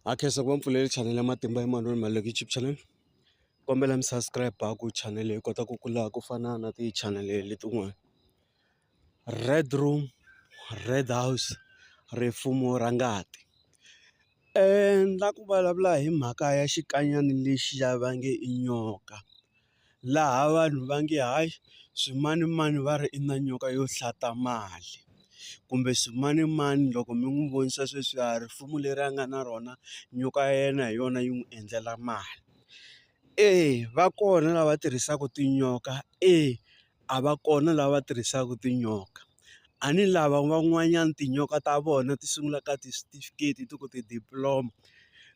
ha khensa ku va mi pfulele chanele ya matimba ya manoni Maluleke YouTube channel kombela mi subscribe ku chanele yi kota ku kula ku fana na tichanele letin'wana Red Room Red House rifumo ra ngati ni la ku vulavula hi mhaka ya xikanyana lexi ya va nge i nyoka. laha vanhu va nge hayi swimanimani va ri i na nyoka yo hlata mali kumbe swimanimani loko mi n'wi vonisa sweswiya risimu leri a nga na rona nyoka ya yena hi yona yi n'wi endlela mali eya va kona lava tirhisaka tinyoka eya. a va kona lava tirhisaka tinyoka. A ni lava van'wanyana tinyoka ta vona ti sungula ka ti-certificate, ti ku ti-diploma,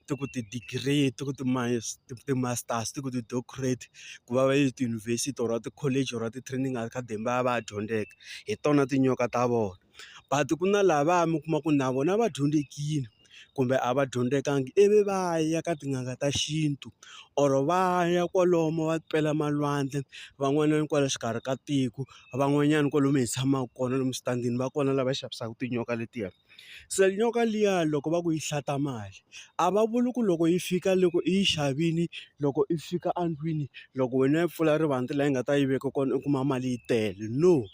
ti ku ti-degree, ti ku ti-masters, ti ku ti-doctorate, ku va va ya etiyunivhesiti or ti-college or ti-training academy va ya va ya dyondzeka, hi tona tinyoka ta vona. But ku na lavaya mi kuma ku na vona va dyondzekile. kumbe a va dyondzekanga ivi va ya ka tin'anga ta xintu or va ya kwalomo va pela malwandle van'wanyana kwale xikarhi ka tiko van'wanyana kwalomu hi tshamaka kona lomu switandini va kona lava xavisaka tinyoka letiya se nyoka liya loko va ku yi hlata mali a va vuli ku loko yi fika loko i yi xavile loko i fika endlwini loko wena yi pfula rivanti laha yi nga ta yi veka kona u kuma mali yi tele no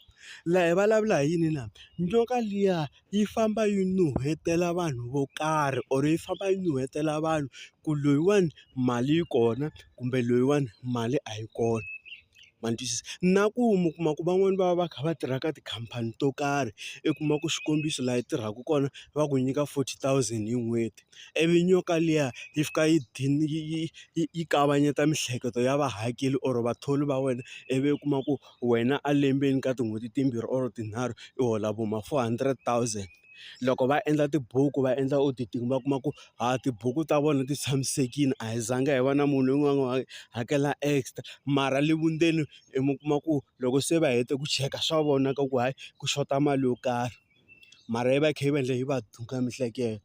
laha hi vulavula hi yini na nyoka liya. yi famba yi nuhetela vanhu vo karhi or yi famba yi nuhetela vanhu ku loyiwani mali yi kona kumbe loyiwani mali a yi kona ma ni twisisa na ku mi kuma ku van'wani va va va kha va tirha ka tikhampani to karhi i kuma ku xikombiso laha yi tirhaka kona va ku nyika forty thousand hi n'hweti ivi nyoka liya yi fika yi yi yi yi yi kavanyeta miehleketo ya vahakeri or vathori va wena ivi u kuma ku wena a lembeni ka tin'hweti timbirhi or tinharhu i hola vo ma four hundred thousand loko va endla tibuku va endla auditing va kuma ku ha tibuku ta vona ti tshamisekile a hi zanga hi va na munhu un'wana na un'wana hakela extra mara le vundzeni i mi kuma ku loko se va hete ku cheka swa vona ka ku hayi ku xota mali yo karhi mara yi va yi kha yi va endla yi va miehleketo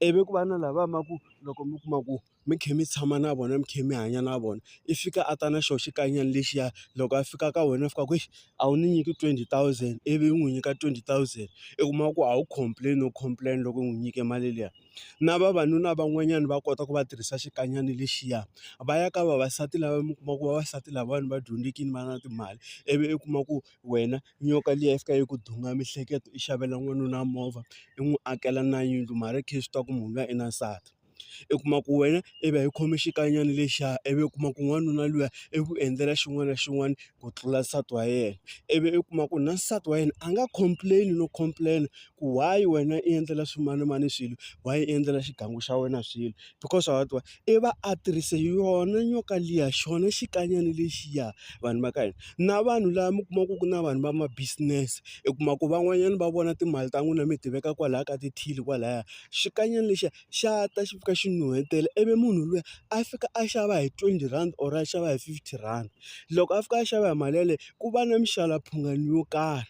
ivi ku va na lava va ku loko mi kuma ku. mi kha mi tshama na vona mi kha mi hanya na vona i fika a ta na xona xikanyana lexiya loko a fika ka wena a fika a ku a wu ni nyiki twenty thousand ivi u n'wi nyika twenty thousand u kuma ku a wu complain u complain loko u n'wi nyike mali liya na vavanuna van'wanyana va kota ku va tirhisa xikanyana lexiya va ya ka vavasati lava mi kuma ku vavasati lavawani va dyondzekile va na timali ivi u kuma ku wena nyoka liya yi fika yi ku duma miehleketo i xavela n'wanuna movha i n'wi akela na yindlu mara i kha i swi tiva ku munhu luya i na nsati. i kuma ku wena i va i khome xikanyana lexiya i vi u kuma ku n'wanuna luya i ku endlela xin'wana na xin'wana ku tlula nsati wa yena, i vi u kuma ku na nsati wa yena a nga complain-i no complain ku why wena i endlela swimanimani swilo why i endlela xigangu xa wena swilo because wa swi tiva i va a tirhise yona nyoka liya xona xikanyana lexiya vanhu va ka hina, na vanhu lava mi kuma ku ku na vanhu va ma-business i kuma ku van'wanyana va vona timali ta n'wina mi ti veka kwalaya ka ti-till kwalaya. xikanyana lexiya xa ta xi fika xi nuhetela ivi munhu luya a fika a xava hi twenty rand or a xava hi fifty rand loko a fika a xava hi mali yaleyo ku va na mixava mphungano yo karhi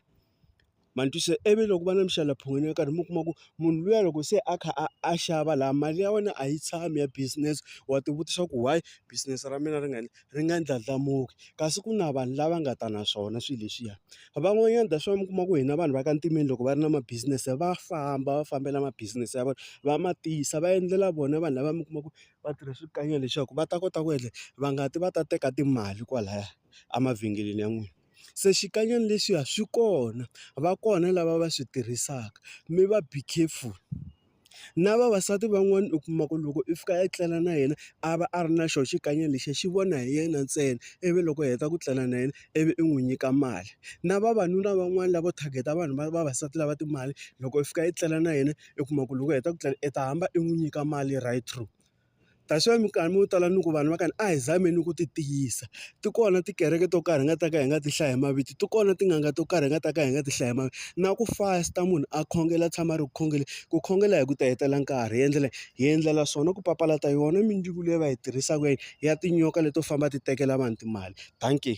ma ni twisisa ivi loko va na mixava mphungano yo karhi mi kuma ku munhu luya loko se a kha a a xava laha mali ya wena a yi tshami ya business wa ti vutisa ku why business ra mina ri nga . ri nga ndlandlamuki kasi ku na vanhu lava nga ta na swona swilo leswiya van'wanyana that's why mi kuma ku hina vanhu va ka ntimeni loko va ri na ma business va famba va fambela ma business ya vona va ma tisa va endlela vona vanhu lava mi kuma ku va tirha swikanyana leswaku va ta kota ku endla va nga ti va ta teka timali kwalaya emavhengeleni ya n'wina se xikanyana lexiya swi kona va kona lava va swi tirhisaka mi va be careful. Na vavasati van'wana u kuma ku loko i fika i tlela na yena, a va a ri na xona xikanyakanya lexi a xi vona hi yena ntsena. Ivi loko a heta ku tlela na yena ivi i n'wi nyika mali. Na vavanuna van'wani lavo target-a vanhu va vavasati lava timali, loko i fika i tlela na yena u kuma ku loko u heta ku tlela i ta hamba i n'wi nyika mali right through. That's why minkarhi yo tala ni ku vanhu va ka ni a hi zameni ku ti tiyisa. Ti kona tikereke to karhi hi nga ta ka hi nga ti hlaya hi mavito, ti kona tin'anga to karhi hi nga ta ka hi nga ti hlaya hi mavito. Na ku fasta munhu a khongela a tshama a ri ku khongeleni, ku khongela hi ku ti hetela nkarhi. Hi endlela hi endlela swona ku papalata yona mindzuku leyi va yi tirhisaka ya tinyoka leto famba ti tekela vanhu timali. Dankie.